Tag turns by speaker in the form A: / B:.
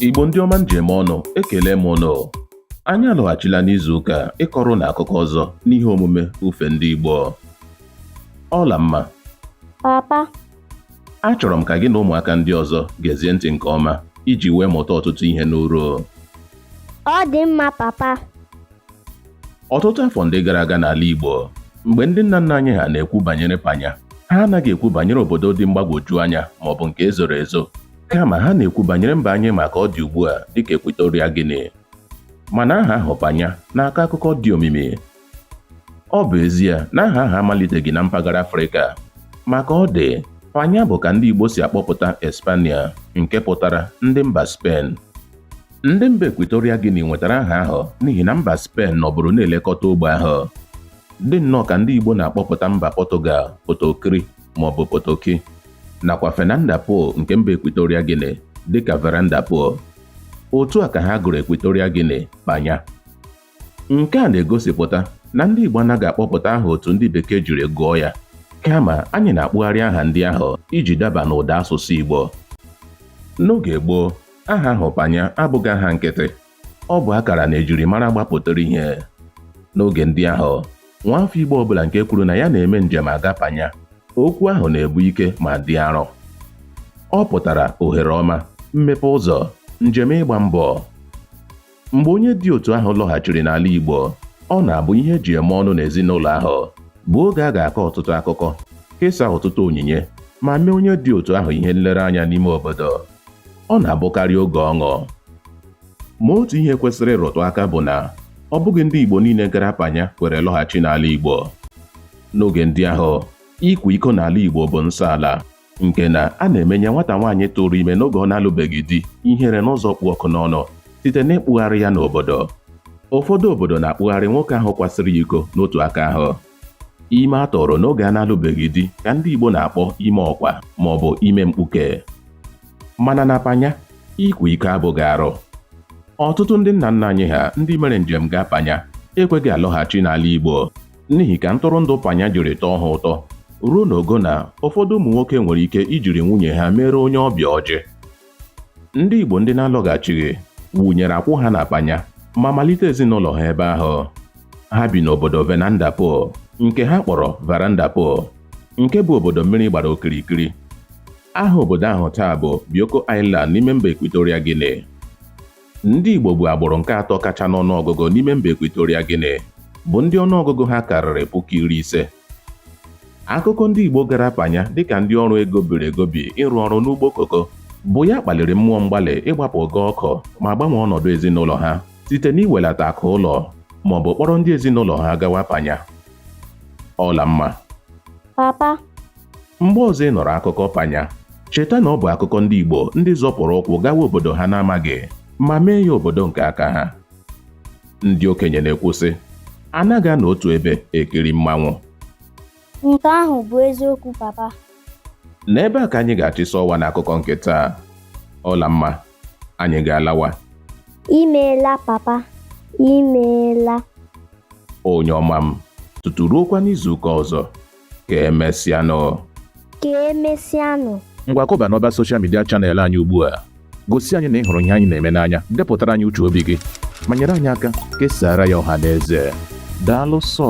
A: Igbo ndị ọma m ji eme ọnụ ekele m ụnụ anyị alọghachila n'izu ụka a ịkọrọ ụnụ akụkọ ọzọ n'ihe omume ufe ndị Igbo Ọlamma papa achọrọ m ka gị na ụmụaka ndị ọzọ gezie ntị nke ọma iji wee mụta ọtụtụ ihe ị
B: nụrụ ọ dị mma
A: papa ọtụtụ afọ ndị gara aga n'ala Igbo mgbe ndị nna nna anyị ha na-ekwu banyere panya ha anaghị ekwu banyere obodo dị mgbagwoju anya ma ọ bụ nke ezoro ezo kama ha na-ekwu banyere mba anyị ma ka ọ dị ugbu a dịka Equatorial Guinea mana aha ahụ panya na-akọ akụkọ dị omimi ọ bụ ezie na aha ahụ amaliteghị na mpaghara Afrịka ma ka ọ dị panya bụ ka ndị Igbo si akpọpụta Espania nke pụtara ndị mba Spen ndị mba Equatorial Guinea nwetara aha ahụ n'ihi na mba Spen nọburu na-elekọta ogbe ahụ Dị nnọọ ka ndị Igbo na-akpọpụta mba Pọtụgal Potokri maọbụ Potoki nakwa Fernanda Po nke mba Equatorial Guinea dịka Veranda Po, otu a ka ha gụrụ Equatorial Guinea Panya. Nke a na-egosipụta na ndị Igbo anaghị akpọpụta aha otu ndị Bekee jiri gụọ ya kama anyị na-akpụgharị aha ndị ahụ iji daba n'ụda asụsụ Igbo. N'oge gboo, aha ahụ Panya abụghị aha nkịtị Ọ bụ akara na ejirimara gbapụtara ihe n'oge ndị ahụ. Nwaafọ Igbo ọbụla nke kwuru na ya na-eme njem aga Panya, okwu ahụ na-ebu ike ma dị arọ. Ọ pụtara ohere ọma, mmepe ụzọ, njem ịgba mbọ. Mgbe onye dị otu ahụ lọghachiri n'ala Igbo, ọ na-abụ ihe eji eme ọnụ n'ezinụlọ ahụ, bụ oge a ga-akọ ọtụtụ akụkọ, kesaa ọtụtụ onyinye, ma mee onye dị otu ahụ ihe nlereanya n'ime obodo. ọ na-abụkarị oge ọṅụ ma otu ihe kwesịrị ịrụtụ aka bụ na ọ bụghị ndị Igbo niile gara panya kwere lọghachi n'ala Igbo n'oge ndị ahụ ịkwa iko n'ala Igbo bụ nsọ ala nke na a na-emenye nwata nwaanyị tụrụ ime n'oge ọ na-alụbeghị di ihere n'ụzọ kpụ ọkụ n'ọnụ site n'ịkpụgharị ya n'obodo ụfọdụ obodo na-akpụgharị nwoke ahụ kwasịrị iko n'otu aka ahụ Ime a tụrụ n'oge a na-alụbeghị di ka ndị Igbo na-akpọ ime ọkwa ma ọ bụ ime mkpuke. Mana na Panya, ịkwa iko abụghị arụ. Ọtụtụ ndị nna nna anyị ha ndị mere njem gaa Panya ekweghị alọghachi n'ala Igbo n'ihi ka ntụrụndụ Panya jiri tọọ ha ụtọ ruo n'ogo na ụfọdụ ụmụ nwoke nwere ike ijiri nwunye ha mere onye ọbịa ọjị. ndị Igbo ndị na-alọghachighị wunyere akwụ ha na Panya ma malite ezinụlọ ha ebe ahụ ha bi n'obodo Fernanda Po nke ha kpọrọ Veranda Po nke bụ obodo mmiri gbara okirikiri aha obodo ahụ taa bụ Bioko Island n'ime mba Equatorial Guinea ndị Igbo bụ agbụrụ nke atọ kacha n'ọnụọgụgụ n'ime mba Equatorial Guinea bụ ndị ọnụọgụgụ ha karịrị puku iri ise akụkọ ndị Igbo gara Panya dịka ndị ọrụ egobiri egobi ịrụ ọrụ n'ugbo koko bụ ya kpaliri mmụọ mgbalị ịgbapụ ogo ọkụ ma gbanwee ọnọdụ ezinụlọ ha site n'iwelata akụ ụlọ ma ọ bụ kpọrọ ndị ezinụlọ ha gawa Panya Ọlamma
B: papa
A: mgbe ọzọ ị nụrụ akụkọ Panya cheta na ọ bụ akụkọ ndị Igbo ndị zọpụrụ ụkwụ gawa obodo ha na-amaghị ma mee ya obodo nke aka ha ndị okenye na-ekwu sị anaghị anọ otu ebe ekiri mmanwụ Nke
B: ahụ bụ eziokwu papa. n'ebe
A: a ka anyị ga-achịsa ọwa n'akụkọ nke taa Ọlamma anyị ga-alawa
B: Imeela papa. Imeela.
A: onye ọma m tutu ruokwa n'izuụka ọzọ ka emesịanụ ka
B: emesịanụ ngwa kụba n'ọba
A: soshal midia chanel anyị ugbu a gosi anyị na ị hụrụ ihe anyị na-eme n'anya depụtara anyị uche obi gị ma nyere anyị aka kesara ya ọha na eze daalụ sọ